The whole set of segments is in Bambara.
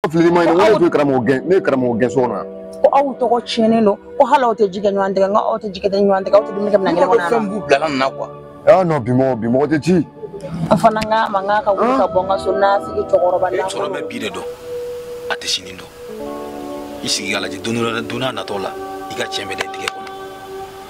fili ma ɲi ne tun ye karamɔgɔ gɛn ne ye karamɔgɔ gɛn so kɔnɔ ko aw tɔgɔ tiɲɛnen don ko hali aw tɛ ji kɛ ɲɔgɔn tigɛ kan aw tɛ ji kɛ ɲɔgɔn tigɛ kan aw tɛ dumuni kɛ minɛn kelen kɔnɔ yan fɛn b'u bila nin na quoi aa non bi mɔgɔ bi mɔgɔ tɛ ci n fana n k'a ma n k'a ka wuli ka bɔ n ka so n'a sigi cɛkɔrɔba n'a cɛkɔrɔba bɛ bi de dɔn a tɛ sini dɔn i sigi k'a lajɛ don dɔ la don n'a natɔ la i ka tiɲɛ bɛ da i tigɛ kɔnɔ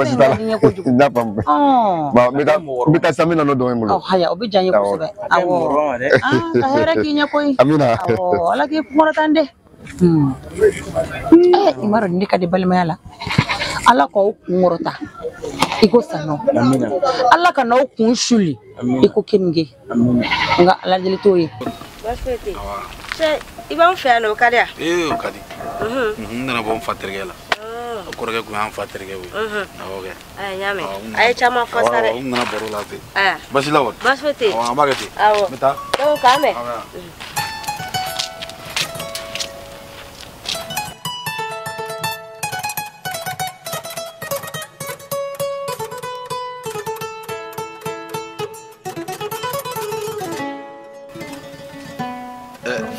basi t'a la n y'a faamu bon n bɛ taa n bɛ taa sisan n bɛ na n'o dɔ ye n bolo haya o bɛ diya n ye kosɛbɛ awɔ ka hɛrɛ k'i ɲɛ koyi amina ala k'i kɔrɔtan dɛ Hmm. Eh, i m'a dɔn nin de ka di balimaya la ala k'aw kun kɔrɔta i ko saɲɔ ala kan'aw kun suli i ko keninge nka ala deli t'o ye i b'an fɛ yan nɔ o ka di yan ee o ka di n nana bɔ n fa terikɛ la kɔrɔkɛ kun y'an fa terikɛ ye awɔ kɛ Ɛ n y'a mɛn Awɔ, n a ye caman fɔ sa dɛ Awɔ, n nana baro la ten Ɛ, basi la wa baasi foyi tɛ yen Awɔ, an b'a kɛ ten awɔ n bɛ taa donc k'an mɛn Awɔ.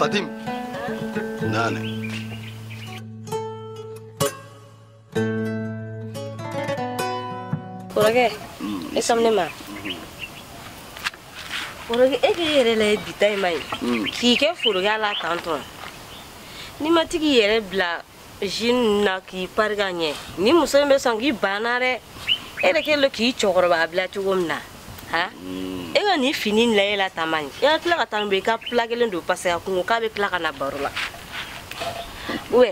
fatim naani kɔrɔkɛ i sɔn ne ma kɔrɔkɛ e k'i yɛrɛ la ye bita in ma ye k'i kɛ foroya la tan tɔn n'i ma tigi yɛrɛ bila jean na k'i pari ka ɲɛ ni muso in bɛ sɔn k'i ban an na dɛ e yɛrɛ kɛlen k'i cɛkɔrɔba bila cogo min na ha e ka nin fini in layɛ la taama nin e ka tila ka taa bɛ i ka pla kelen don paseke a ko k'a bɛ tila ka na baro la ubɛ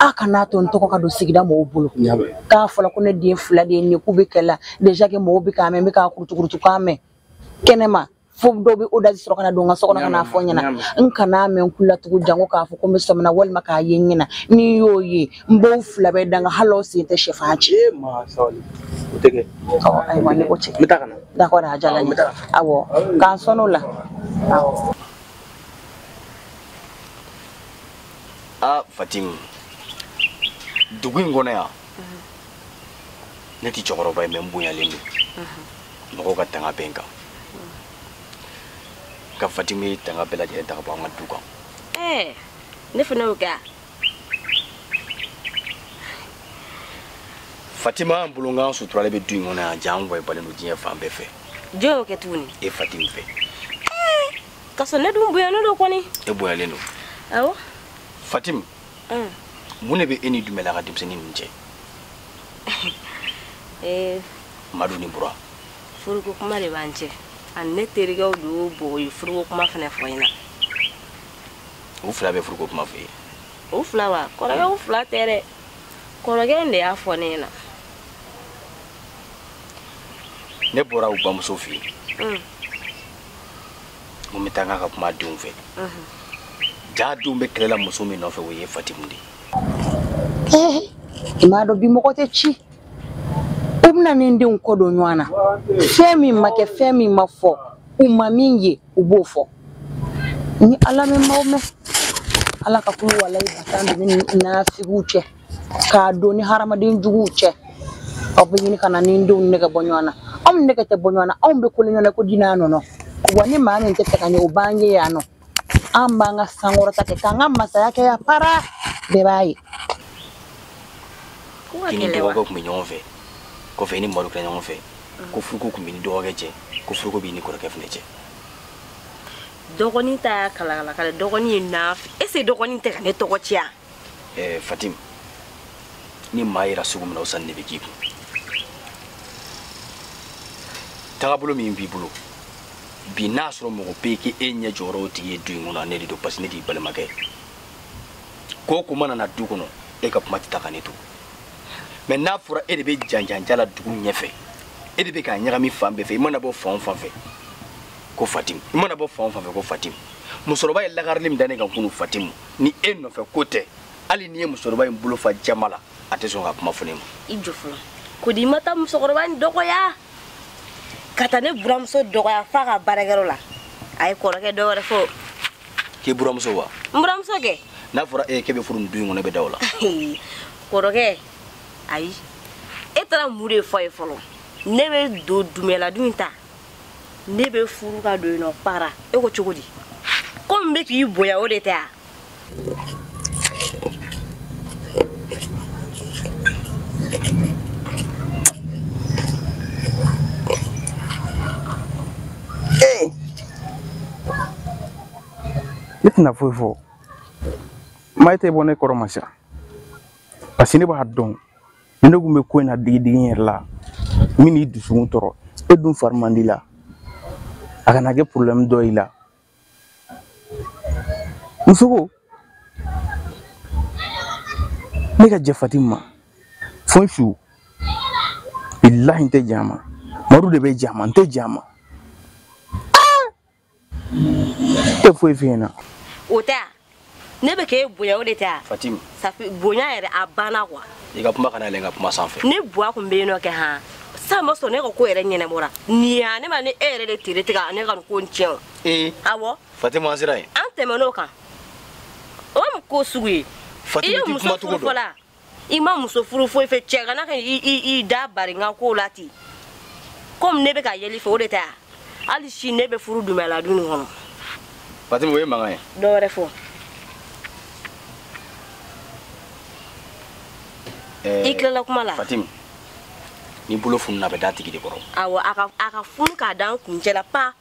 aw kan'a to n tɔgɔ ka don sigida mɔgɔw bolo k'a fɔla ko ne den fila de ye nin k'u bɛ kɛlɛ la déjà que mɔgɔw bɛ k'a mɛn n bɛ k'a kurutukurutu k'a mɛn kɛnɛma fo dɔw bɛ o daji sɔrɔ ka na don n ka so kɔnɔ ka n'a fɔ n ɲɛna n kan'a mɛn n tulo la tugu janko k'a fɔ ko n bɛ sɔmina walima k'a ye n ɲɛ na ni n y'o ye n b'aw fila bɛɛ danga hali aw sen tɛ sɛfan ci ayiwa ne ko cɛ d'accord a diyara n ye awɔ k'an sɔn o la awɔ aa fatimu dugu in kɔnɔ yan ne tɛ cɛkɔrɔba ye mais n bonyalen don mɔgɔw ka tanga bɛ n kan nka fatimu ye tanga bɛɛ lajɛlen ta ka bɔ an ka du kan eh, ne fana y'o kɛ wa fatima bolonkan suturalen bɛ du in kɔnɔ yan an wayibalen don diɲɛ fan bɛɛ fɛ jɔn y'o kɛ tuguni e fatimu fɛ ka sɔrɔ ne dun bonyalen don kɔni e bonyalen don awɔ fatim mun de bɛ e ni dumɛla ka denmisɛnnin ninnu cɛ eh. madu ni bura furuko kuma de b'an cɛ ani ne terikɛw don o bɔ kɔ yen furuko kuma fana fɔ n ɲɛna u fila bɛ furuko kuma fɔ i ye u fila wa kɔrɔkɛ u fila tɛ dɛ kɔrɔkɛ in de y'a fɔ ne ɲɛna ne bɔra u bamuso fɛ yen mun bɛ taa n ka ka kuma denw fɛ jaa denw bɛ kɛlɛ la muso min nɔfɛ o ye fatimu de ye i m'a dɔn bi mɔgɔ tɛ ci u bɛna ne denw kɔ don ɲɔgɔn na fɛn min ma kɛ fɛn min ma fɔ u ma min ye u b'o fɔ ni ala mɛn maaw mɛn ala ka kulu walayi balan don ni nafigiw cɛ k'a don ni hadamaden juguw cɛ aw bɛ ɲini ka na ne denw nɛgɛ bɔ ɲɔgɔn na anw nɛgɛ tɛ bɔ ɲɔgɔn na anw bɛ kolo ɲɔgɔn na ko dinaa nɔnɔ wa ni maa min t'a fɛ k'an ye o b'an ye yan nɔ an b'an ka sankɔrɔta kɛ k'an ka masaya kɛ yan para bɛɛ b'a ye i ni dɔgɔkɛ tun bɛ ɲɔgɔn fɛ kɔfɛ i ni madu kɛra ɲɔgɔn fɛ ko furuko tun bɛ ni dɔgɔkɛ cɛ ko furuko b'i ni kɔrɔkɛ fana cɛ dɔgɔnin ta y'a kalakalakala dɔgɔnin ye n'a fɛ ese dɔgɔnin tɛ ka ne tɔgɔ tiɲɛ ɛɛ fatim ni maa yera sugu min na o sanni de bɛ k'i kun tagabolo min b'i bolo bi n'a sɔrɔ mɔgɔ bɛ k'e ɲɛ jɔyɔrɔ o tigi ye du in kɔnɔ ne de don parce que ne de y'i balimakɛ ko o ko mana na du kɔnɔ e ka kuma tɛ ta ka ne to mais n'a fɔra e de bɛ janjanja la dugu ɲɛfɛ e de bɛ k'a ɲagami fan bɛɛ fɛ i mana bɔ fan o fan fɛ ko fatimu i mana bɔ fan o fan fɛ ko fatimu musokɔrɔba ye lakarili min da ne kan kunu fatimu ni e nɔfɛ ko tɛ hali n'i ye musokɔrɔba in bolo fa jama la a tɛ sɔn ka kuma fɔ ne ma i jɔ fɔlɔ ko di i ma taa musokɔrɔba in dɔgɔya ka taa ne buramuso dɔgɔya f'a ka baarakɛyɔrɔ la ayi kɔrɔkɛ dɔ wɛrɛ fɔ k'i buramuso wa n buramuso kɛ n'a fɔra e k'e bɛ furu nin du in kɔnɔ e bɛ da o la kɔrɔkɛ ayi e taara mun de fɔ a ye fɔlɔ ne bɛ don du min na du in ta ne bɛ furu ka don yen nɔ para e ko cogo di komi n bɛ k'i bonya o de tɛ wa ne tɛna foyi fɔ maa e tɛ bɔ ne kɔrɔ ma sa parce que ne b'a dɔn ni ne kun bɛ ko in na digidigi n yɛrɛ la min n'i dusukun tɔɔrɔ e dun fari man di i la a kana kɛ porobilɛmu dɔ y'i la muso ko ne ka jɛn fatim ma fo n su bilahi n tɛ jɛn a ma madu de bɛ jɛn a ma n tɛ jɛn a ma e tɛ foyi f'i ɲɛna o tɛ ne bɛ k'e bonya o de tɛ wa fatim safi bonya yɛrɛ a banna kuwa i ka kuma kana yɛlɛ n ka kuma sanfɛ ne buwa kun bɛ yen nɔ kɛ han sa ma sɔn ne ka ko yɛrɛ ɲɛnabɔra nin ya ne ma ni e yɛrɛ de tere tɛ ka ne ka nin ko in tiɲɛ o ee awɔ fatim an sera yen an tɛmɛn'o kan o mun ko sugu ye i ye muso furu fɔla i ma muso furu foyi fɛ cɛgana ka i da bari n ka kow la ten komi ne bɛ ka yɛlɛ i fɛ o de tɛ wa hali si ne bɛ furu dumɛla du nin kɔnɔ fatimi o ye mankan ye dɔ wɛrɛ fɔ eh, i tilala kuma la fatimi ni bolo fununa a bɛ d'a tigi de kɔrɔ awɔ a ka funu k'a da n kuncɛ la pa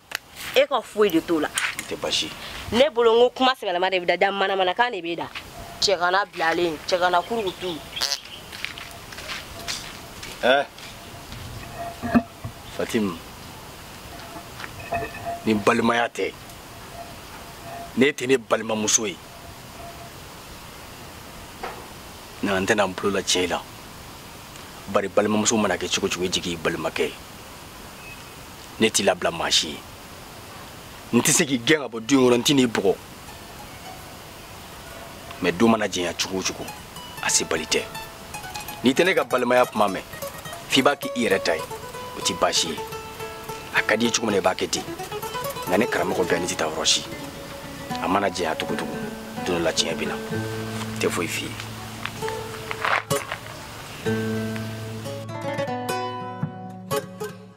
e ka foyi de t'o la n tɛ basi ne bolo n ko kuma sɛbɛlama de bɛ da da manamanakan de bɛ da cɛgana bilalen cɛgana kurukutu eh. fatimu ni balimaya tɛ ne tɛ ne balimamuso ye nka n tɛna n bolo la cɛ i la bari balimamuso mana kɛ cogo cogo i jigi y'i balimakɛ ye ne t'i labila maa si ye n tɛ se k'i gɛn ka bɔ du in kɔnɔ n tɛn'i bugɔ mɛ don mana jɛnya cogo o cogo a sebali tɛ n'i tɛ ne ka balimaya kuma mɛn f'i b'a kɛ i yɛrɛ ta ye o tɛ baasi ye a ka d'i ye cogo min na i b'a kɛ ten nka ne karamɔgɔ bɛɛ ne tɛ taa yɔrɔ si a mana jɛnya cogo cogo don dɔ la tiɲɛ bɛ na n tɛ foyi f'i ye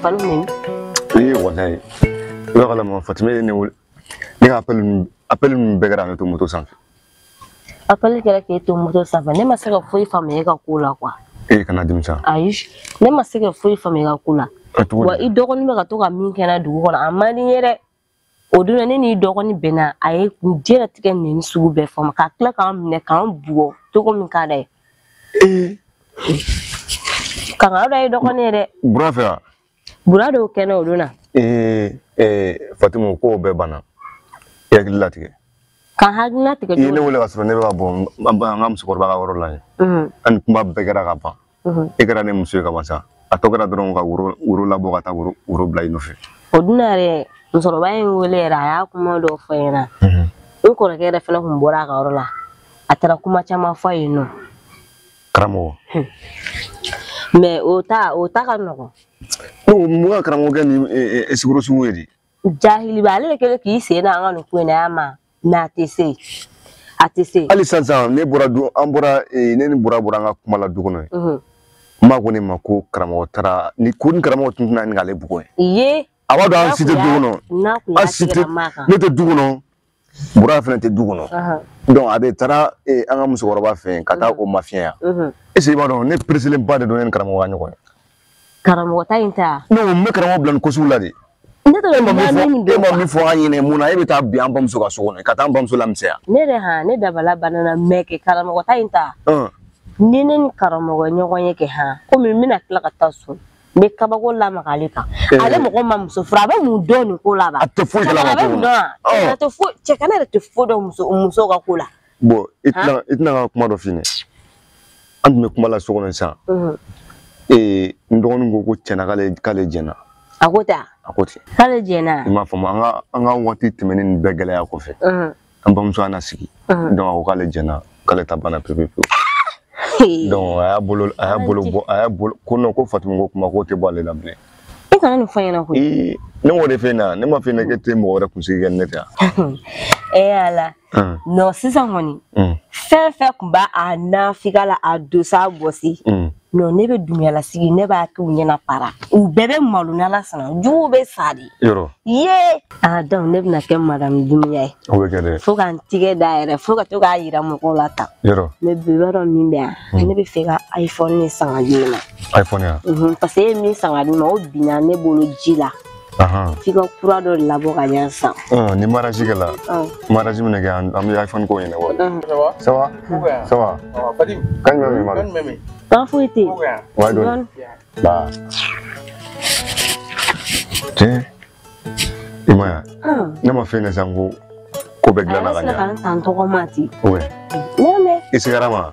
falo min ee walayi i b'a kalama fatuma ye ne wele ne ka apɛli ninnu bɛɛ kɛra ne to moto sanfɛ apɛli kɛra k'e to moto sanfɛ ne ma se ka foyi faamuya e ka ko la kuwa e kana dimi sa ayi ne ma se ka foyi faamuya e ka ko la wa i dɔgɔnin bɛ ka to ka min kɛ n na dugu kɔnɔ a man di n ye dɛ o don na ne n'i dɔgɔnin bɛnna a ye diɲɛlatigɛ nɛni sugu bɛɛ fɔ n ma ka tila ka n minɛ ka n bugɔ cogo min ka d'a ye kangaro da ye dɔgɔnin ye dɛ bura fɛ wa bura don kɛnɛ o don na ee ee fatimu kow bɛɛ banna i hakili latigɛ ka n hakili latigɛ i ye ne wele ka sɔrɔ ne bɛ ka bɔ n ka musokɔrɔba ka yɔrɔ la yen ani kuma bɛɛ kɛra ka ban e kɛra ne muso ye ka ban sa a tɔ kɛra dɔrɔn ka woro labɔ ka taa woro bila i nɔfɛ o don na yɛrɛ musokɔrɔba ye n wele yɛrɛ a ye kuma dɔw fɔ n ɲɛna n kɔrɔkɛ yɛrɛ fana tun bɔra a ka yɔrɔ la a taara kuma caman fɔ yen nɔ karamɔgɔ mɛ o ta o ta ka nɔgɔn mun ka karamɔgɔkɛ nin ɛsikoro sugu ye di jahiliba ale de kɛlen k'i sen da an ka nin ko in na ma mɛ a tɛ se a tɛ se hali sisan sisan ne bɔra du an bɔra ne ni bura bɔra an ka kuma la du kɔnɔ yen n ba ko ne ma ko karamɔgɔ taara ni ko ni karamɔgɔ tun tɛna ni k'ale bugɔ ye a b'a dɔn an si tɛ du kɔnɔ an si tɛ ne tɛ du kɔnɔ bura fana tɛ du kɔnɔ donc a de taara eh, an ka musokɔrɔba fɛ yen ka taa mhm. o mafiɲɛya mhm. est-ce que i b'a dɔn ne pereselen ba de don ne ni karamɔgɔ ka ɲɔgɔn ye karamɔgɔ ta in ta non n bɛ karamɔgɔ bila nin ko sugu la de e ma min fɔ an ɲɛna mun na e bɛ taa bi an bamuso ka so kɔnɔ ka taa an bamuso lamisɛnya ne yɛrɛ ha ne dabali banna mɛ kɛ karamɔgɔ ta in ta ni ne ni karamɔgɔ ɲɔgɔn ye kɛ han komi n bɛna tila ka taa so n bɛ kabako lamaga ale kan eh. ale mɔgɔ ma muso furu a bɛ mun dɔn nin ko la ba a tɛ foyi kalama ko la a bɛ mun dɔn a oh. tɛ foyi cɛgana yɛrɛ tɛ foyi dɔn muso muso ka ko la. bon i tɛ na i tɛ na n ka kuma dɔ f'i ɲɛ an tun bɛ kuma la so kɔnɔ sisan mhm. eh, n dɔgɔnin ko ko tiɲɛ na k'ale k'ale jɛnna. a ko ten a ko ten. k'ale jɛnna. i m'a faamu an ka an ka waati tɛmɛnen nin bɛɛ gɛlɛya kɔfɛ. Mhm. an bamuso an na sigi donc a ko k'ale jɛnna k'ale ta banna pepe pewu donc a y'a bolo a y'a bolo bɔ a y'a bolo ko non ko Fatimu ko kuma k'o tɛ bɔ ale la bilen i kana nin fɔ n ɲɛna koyi ee ne m'o de f'e ɲɛna ne m'a f'e ɲɛna k'e tɛ mɔgɔ wɛrɛ kunsigi kɛ ni ne tɛ yan ee eh, ala non sisan kɔni fɛn fɛn tun b'a a nafika la a dosa bɔsi non ne bɛ Dumuya la sigi ne b'a k'u ɲɛna para u bɛɛ bɛ malo n'ala sɔnna juguw bɛ sa de yɔrɔ ye aa donc ne bɛna kɛ madamu Dumuya ye o bɛ kɛ dɛ fo ka n tigɛ da yɛrɛ fo ka to k'a yira mɔgɔw la tan yɔrɔ mais bi b'a dɔn min bɛ yan hmm. ne bɛ fɛ ka iphone san ka di ne ma iphone ya parce que e ye min san ka di ne ma o binna ne bolo ji la f'i ka kura dɔ labɔ ka ɲɛ san ni mariage kɛla mariage min kɛ an bɛ iphone ko ɲɛnabɔ ça va ça va kan jumɛn b'i ma kan foyi tɛ yen wa dɔɔni ba tiɲɛ i m'a ye ne ma fɛn kɛ sisan ko ko bɛɛ dilanna ka ɲɛ a yɛrɛ sera ka n san tɔgɔma ten i sigara ma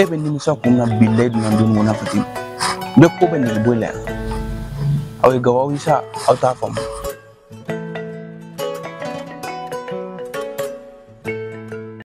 e bɛ nimisa kun na bilayi dunan don mun na fati bɛɛ ko bɛ nege bɔ i la yan aw ye gawaw ye sa aw t'a faamu